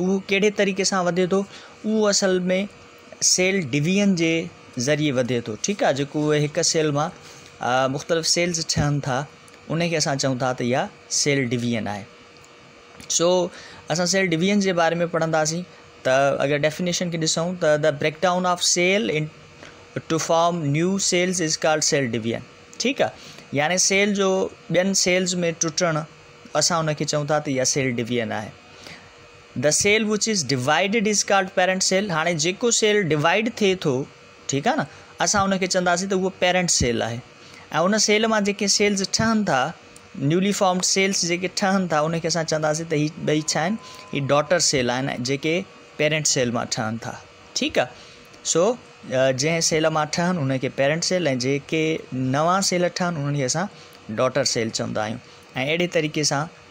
اهو ڪهڙي طريقي سان وڌي ٿو اهو اصل ۾ سيل ڊويزن جي ذريعي وڌي ٿو ٺيڪ آهي جيڪو اهي هڪ سيل مان مختلف سيلز ٺهن ٿا ان کي اسان چون ٿا ته اها سيل ڊويزن آهي سو اسان سيل ڊويزن جي باري ۾ پڙهنداسين ته اگر ڊيفينيشن کي ڏسون ته the break down of cell into form new cells is called cell division ٺيڪ آهي يعني سيل جو ٻين سيلز ۾ ٽٽڻ اسان ان کي چون ٿا ته اها سيل ڊويزن آهي The cell which is divided is called parent cell هاڻي جيڪو سيل ڊوائيڊ ٿئي ٿو ٺيڪ آهي نه اسان ان کي چونداسين ته اهو پيرنٽ سيل آهي ۽ ان سيل مان جيڪي سيلز ٺهن ٿا نيولي فارمڊ سيلز جيڪي ٺهن ٿا ان کي اسان چونداسين ته هي ٻئي ڇا آهن هي ڊاٽر سيل آهن جيڪي پيرنٽ سيل مان ٺهن ٿا ٺيڪ آهي سو جنهن سيل مان ٺهن ان کي پيرنٽ سيل ۽ جيڪي نوان سيل ٺهن انهن کي اسان ڊاٽر سيل چوندا آهيون ۽ اهڙي طريقي سان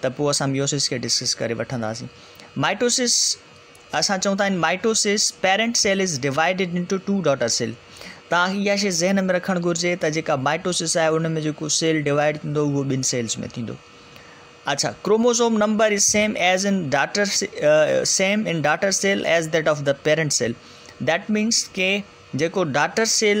ته پوء اسان ميوسس کي ڊسڪس ڪري وٺنداسين. مائٽوسس، اسان چئون ٿا ان mitosis parent cell is divided into two daughter cell. توهان کي اها شيء ذهن ۾ رکڻ گهرجي ته جيڪا مائٽوسس آهي ان ۾ جيڪو سيل ڊوائيڊ ٿيندو اهو ٻن سيلز ۾ ٿيندو. اڇا chromosome number is same as in daughter same in daughter cell as that of the parent cell that means ڪي جيڪو daughter cell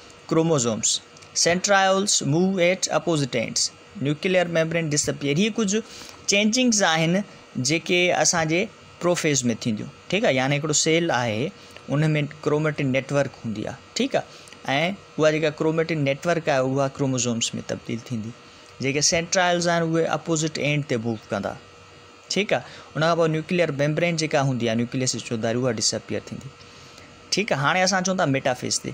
chromosomes, centrioles, move at opposite ends, nuclear membrane disappear هي ڪجهه changings آهن جيڪي اسان جي پروفيز ۾ ٿينديون ٺيڪ آهي يعني هڪڙو سيل آهي ان ۾ ڪروميٽن نيٽورڪ هوندي آهي ٺيڪ آهي ۽ اها جيڪا ڪروميٽن نيٽورڪ آهي اها ڪروموزومس ۾ تبديل ٿيندي جيڪي سينٽرائلز آهن اهي اپوزٽ اينڈ تي موو ڪندا ٺيڪ آهي ان کان پوء نيوڪليئر ميمبرين جيڪا هوندي آهي نيوڪليس جو داري اها ڊس اپيئر ٿيندي ٺيڪ آهي هاڻي اسان چون ٿا ميٽافيز تي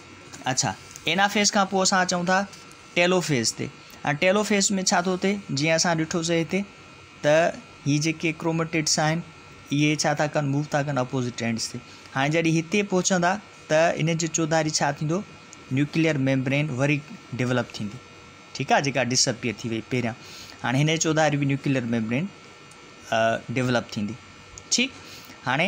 اڇا اينافيز کان پوء اسان اچون ٿا ٽيلوفيز تي ۽ ٽيلوفيز ۾ ڇا ٿو ٿئي جيئن اسان ڏٺوسي هتي ته هي جيڪي ڪروميٽيڊس آهن اهي ڇا ٿا ڪن موو ٿا ڪن اپوزٽ اينڊس تي هاڻي جڏهن هتي پهچندا ته ان جو چوڌاري ڇا ٿيندو نيوڪليئر ميمبرين وري ڊيولپ ٿيندي ٺيڪ آهي جيڪا ڊسپيئر ٿي وئي پهريان هاڻي هن جي چوڌاري به نيوڪليئر ميمبرين ڊيولپ ٿيندي ٺيڪ هاڻي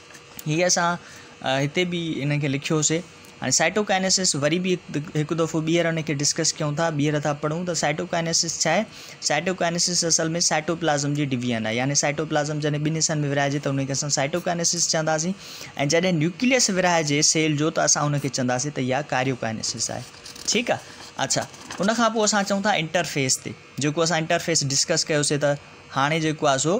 هي اسان هتي به ان کي لکيو هوسي هاڻي سائٽوڪائنيسس وري به هڪ دفعو ٻيهر ان کي ڊسڪس ڪيون ٿا ٻيهر ٿا پڙهون ته سائٽوڪائنيسس ڇا آهي سائٽوڪائنيسس اصل ۾ سائٽوپلازم جي ڊويزن آهي يعني سائٽوپلازم جڏهن ٻن حصن ۾ ورهائجي ته ان کي اسان سائٽوڪائنيسس چونداسين ۽ جڏهن نيوڪليس ورهائجي سيل جو ته اسان ان کي چونداسين ته اها ڪاريوڪائنيسس آهي ٺيڪ آهي اڇا ان کان پوء اسان چون ٿا انٽرفيس تي جيڪو اسان انٽرفيس ڊسڪس ڪيوسي ته هاڻي جيڪو آهي سو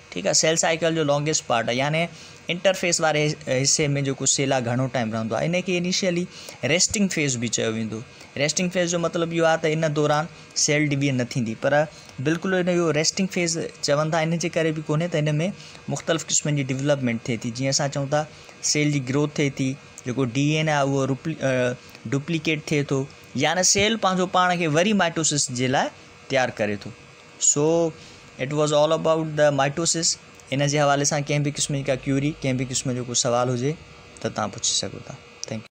ٺيڪ آ سيل سائيڪل جو لانگيسٽ پارٽ آ يعني انٽرفيس واري حصي ۾ جيڪو سيل آ گهڻو ٽائيم رهندو آ ان کي انيشيلي ريسٽنگ فيز به چيو ويندو ريسٽنگ فيز جو مطلب اهو آ ته ان دوران سيل ڊويئن نه ٿيندي پر بلڪل ان جو ريسٽنگ فيز چون ٿا ان جي ڪري به ڪونهي ته ان ۾ مختلف قسمن جي ڊيولپمينٽ ٿئي ٿي جيئن اسان چون ٿا سيل جي گروٿ ٿئي ٿي جيڪو ڊي اين آ اهو ڊپليڪيٽ ٿئي ٿو يعني سيل پنهنجو پاڻ کي وري مائٽوسس جي لاء تيار ڪري ٿو سو it was all about the mitosis ان جي حوالي سان ڪنهن به قسم جي ڪا ڪيوري ڪنهن به قسم جو ڪو سوال هجي ته تان پڇي سگهو ٿا ٿينڪ يو